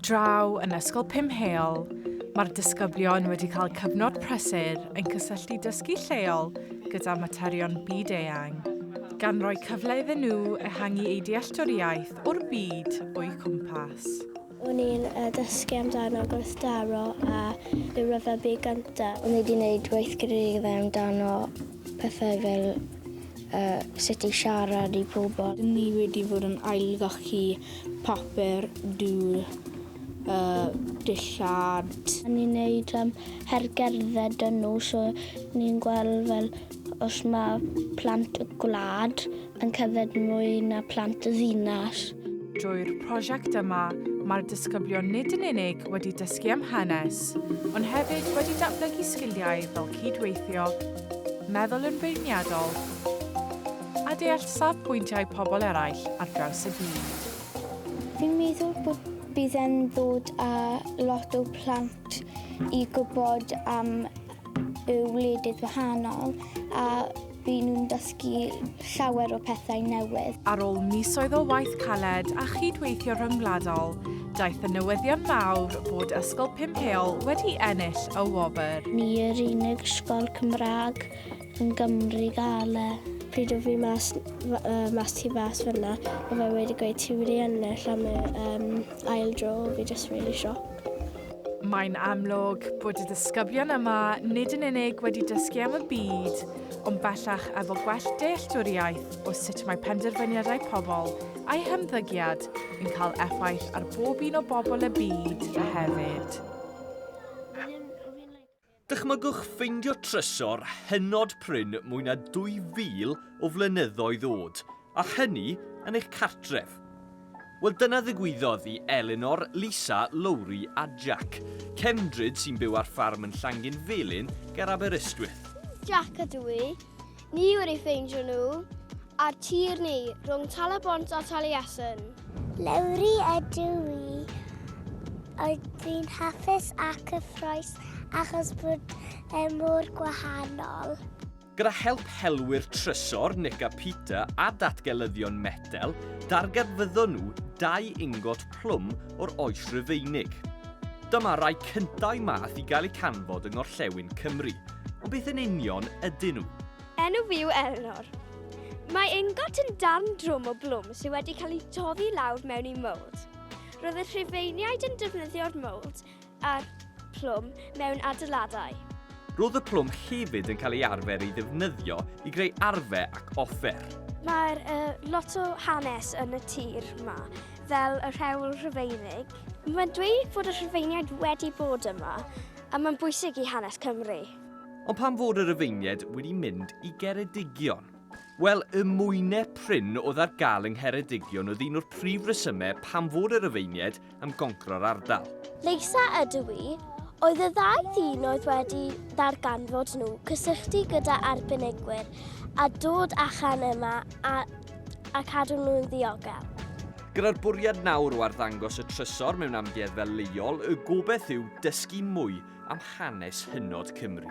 Draw yn Ysgol Pum Heol, mae'r disgyblion wedi cael cyfnod prysur yn cysylltu dysgu lleol gyda materion byd-eang, gan roi cyfle iddyn nhw ehangu eu dealltwriaeth o'r byd o'u cwmpas. O'n i'n uh, dysgu amdano gwrthdaro a yw rhyfel byd gyntaf. O'n i wedi gwneud weithgareddau amdano pethau fel uh, sut i siarad i pobl. Dyn ni wedi bod yn ailgachu papur dŵr uh, dillad. A ni'n neud um, hergerdded dyn nhw, so ni'n gweld fel os mae plant y gwlad yn cyfed mwy na plant y ddinas. Drwy'r prosiect yma, mae'r disgyblion nid yn unig wedi dysgu am hanes, ond hefyd wedi datblygu sgiliau fel cydweithio, meddwl yn feirniadol, a deall safbwyntiau pobl eraill ar draws y byd. Fi'n meddwl bod bydd e'n ddod â lot o plant i gwybod am y wledydd wahanol a bydd nhw'n dysgu llawer o pethau newydd. Ar ôl misoedd o waith caled a chyd-weithio rhyngwladol, daeth y newyddion mawr bod Ysgol Pumheol wedi ennill y wobr. Ni yw'r unig ysgol Cymraeg yn Gymru gael e. Pryd o fi mas mas tu fas fyna, o fe wedi gweud ti wedi ennill am y ail dro, fi jyst rili shocked. Mae'n amlwg bod y disgyblion yma nid yn unig wedi dysgu am y byd, ond bellach efo gwell dealltwriaeth o sut mae penderfyniadau pobl a'u hymddygiad yn cael effaith ar bob un o bobl y byd hefyd. Dychmygwch ffeindio trysor hynod prin mwy na 2,000 o flynyddoedd oed, a hynny yn eich cartref. Wel, dyna ddigwyddodd i Elinor, Lisa, Lowri a Jack, cefndryd sy'n byw ar ffarm yn Llanginfelin ger Aberystwyth. Jack ydw i. Ni wedi ffeindio nhw ar tir ni rhwng Tal-y-bont a Taliesin. Lowri ydw i. Oedd fi'n hapus ac cyffroes achos bod e mor gwahanol. Gyda help helwyr trysor Nick a Peter a datgelyddion metel, darganfyddon nhw dau ingot plwm o'r Oes Rufeinig. Dyma rai cyntau math i gael eu canfod yng Ngorllewin Cymru, Ond beth yn union ydyn nhw? Enw fi yw Elinor. Mae ingot yn darn drwm o blwm sydd wedi cael ei toddi lawr mewn i mold. Roedd y rhufeiniaid yn defnyddio'r mold a'r plwm mewn adeiladau. Roedd y plwm hefyd yn cael ei arfer ei ddefnyddio i greu arfe ac offer. Mae'r uh, lot o hanes yn y tir yma, fel y rhewl rhufeinig. Mae'n dweud bod y rhufeiniaid wedi bod yma A mae'n bwysig i hanes Cymru. Ond pam fod y Rufeiniaid wedi mynd i Geredigion? Wel, y mwynau prin oedd ar gael yng Ngheredigion oedd un o'r prif resymau pam fod y Rufeiniaid am goncro'r ardal. Leisa ydw i. Oedd y ddau ddyn oedd wedi darganfod nhw cysylltu gyda arbenigwyr a dod achan yma a a cadw nhw'n ddiogel. Gyda'r bwriad nawr o arddangos y trysor mewn amgueddfa leol, y gobeith yw dysgu mwy am hanes hynod Cymru.